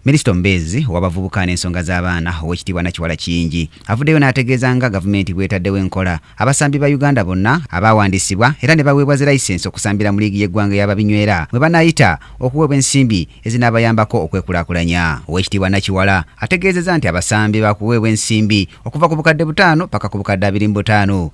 Minisita omubeezi owabavubuka n'ensonga z'abaana ow'ekitiibwa Nakiwala Kiyingi avuddeyo n'ategeeza nga gavumenti bw'etaddewo enkola abasambi ba Uganda bonna abaawandiisibwa era ne baweebwa zi layisinsi okusambira mu liigi y'eggwanga eya babinywera mwe banaayita okuweebwa ensimbi ezinaabayambako okwekulaakulanya. Ow'ekitiibwa Nakiwala ategeezezza nti abasambi baakuweebwa ensimbi okuva ku bukadde butaano ppaka ku bukadde abiri mu butaano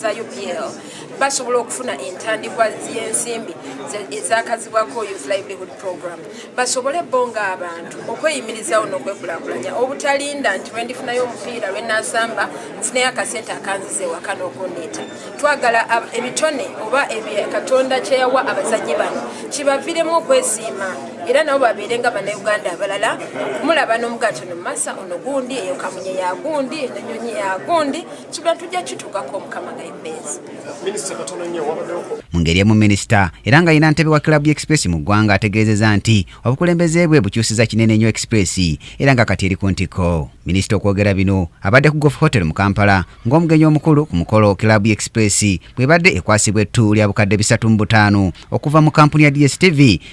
za upl basobola okufuna entandikwa y'ensimbi ezakazibwako youth livelihood program basobole bo nga abantu okweyimirizawo n'okwekulakulanya obutalinda nti lwendifunayo omupiira lwenasamba nfunayo akasente akanziza ewaka n'okundiita twagala ebitone oba katonda kyeyawa abazanyi bano kibaviremu okwesiima era nabo babeere nga banauganda abalala okumulaba n'omugaatono mumasa onogundi eyo kamunye yagundi enyonyi yagundi kino tujja kituukako mukama gaibeezi minisita katono nnyo wabaddeoko mu ngeri emu minisita era nga yina ntebe wa club express mu ggwanga ategeezeza nti obukulembeze bwe bukyusiza kinene nnyo express era nga kati eri ku ntikko minisita okwogera bino abadde ku golf hotel mu kampala ng'omugenyi omukulu ku mukolo club express bwebadde ekwasibwa ettu lya bukadde bisatu mu butaano okuva mu kampuni ya dstv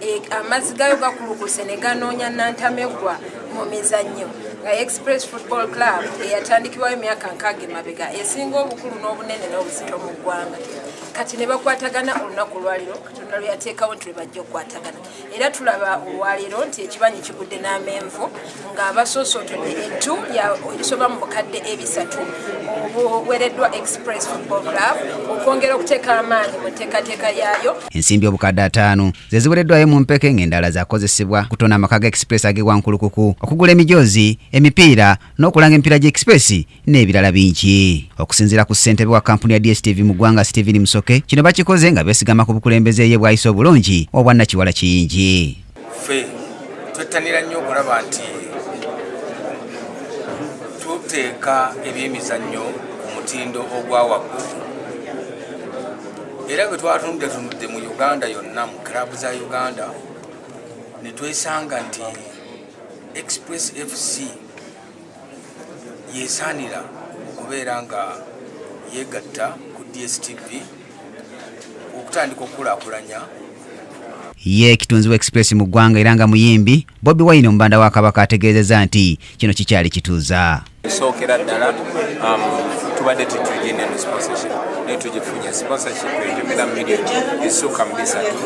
E, amazzi gayo gakulukuse ne ganoonya nantamegwa mu mizannyo nga express football club eyatandikibwayo emyaka nkaaga emabega esinga obukulu n'obunene n'obuzito mu ggwanga kati ne bakwatagana olunaku olwaliro katonda lwe yateekawo nti lwe bajja okukwatagana era tulaba olwaliro nti ekibanyi kigudde n'amenvu nga basoosootunye entu ebisoba mu bukadde ebisatu obuwereddwa express football club okwongera okuteeka amaanyi mu nteekateeka yaayo ensimbi obukadde ataano ze ziwereddwayo mu mpeke ng'endala zakozesebwa kutona amaka ga express ag'ewankulukuku okugula emijoozi emipiira n'okulanga emipiira gya express n'ebirala bingi okusinziira ku ssentebe wa kampuni ya dstv mu ggwanga stephen musoke kino bakikoze nga besigama ku bukulembeze ye bwayise obulungi obwannakiwala kiyingi ffe twettanira nnyo okulaba nti tuteeka ebyemizannyo ku mutindo ogwa waggulu era bwe twatunudde tunudde mu uganda yonna mu kirabu za uganda ne twesanga nti express fc yesaanira okubeera nga yeegatta ku dstv okutandika okukulaakulanya ye kitunzi wa express mu ggwanga era nga muyimbi bobi wine omubanda wa kabaka ategeezeza nti kino kikyali kituuza sookera ddala um, tubadde tetugenda mu sponsorship naye tugifunye sponsorship ejumira million esukka mu bisatu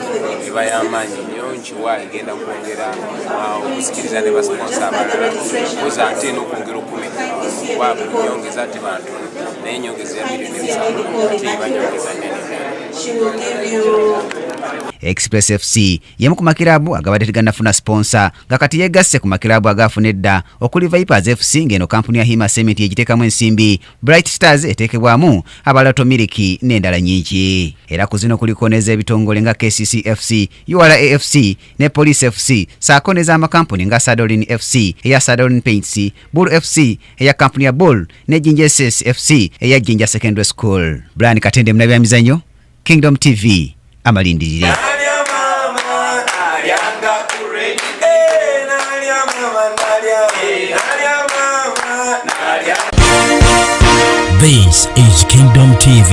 eba y'amaanyi nyo tuwa egenda kwongera uh, okusikiriza ne basiponsa abalala koza ate n'okwongera okumenya kuba nyongeza ate bantu naye nyongeza ya milioni ebisanvu ate ebanyongeza nene Express FC yemu ku makirabu agabadde tegannafuna siponsa nga kati yegasse ku makirabu agaafuna edda okuli Vipers FC ng'eno kampuni ya Hima Cement yegiteekamu ensimbi, Bright Stars eteekebwamu abalato miliki n'endala nyingi. Era ku zino kuliko n'ez'ebitongole nga KCC FC URAFC ne Police FC saako n'ez'amakampuni nga Sadolin FC eya Sadolin Paints, Bull FC eya kampuni ya Bull ne Jinja SS FC eya Jinja Secondary School. Brian Katende munabyamizanyo, Kingdom TV amalindirire. This is Kingdom TV.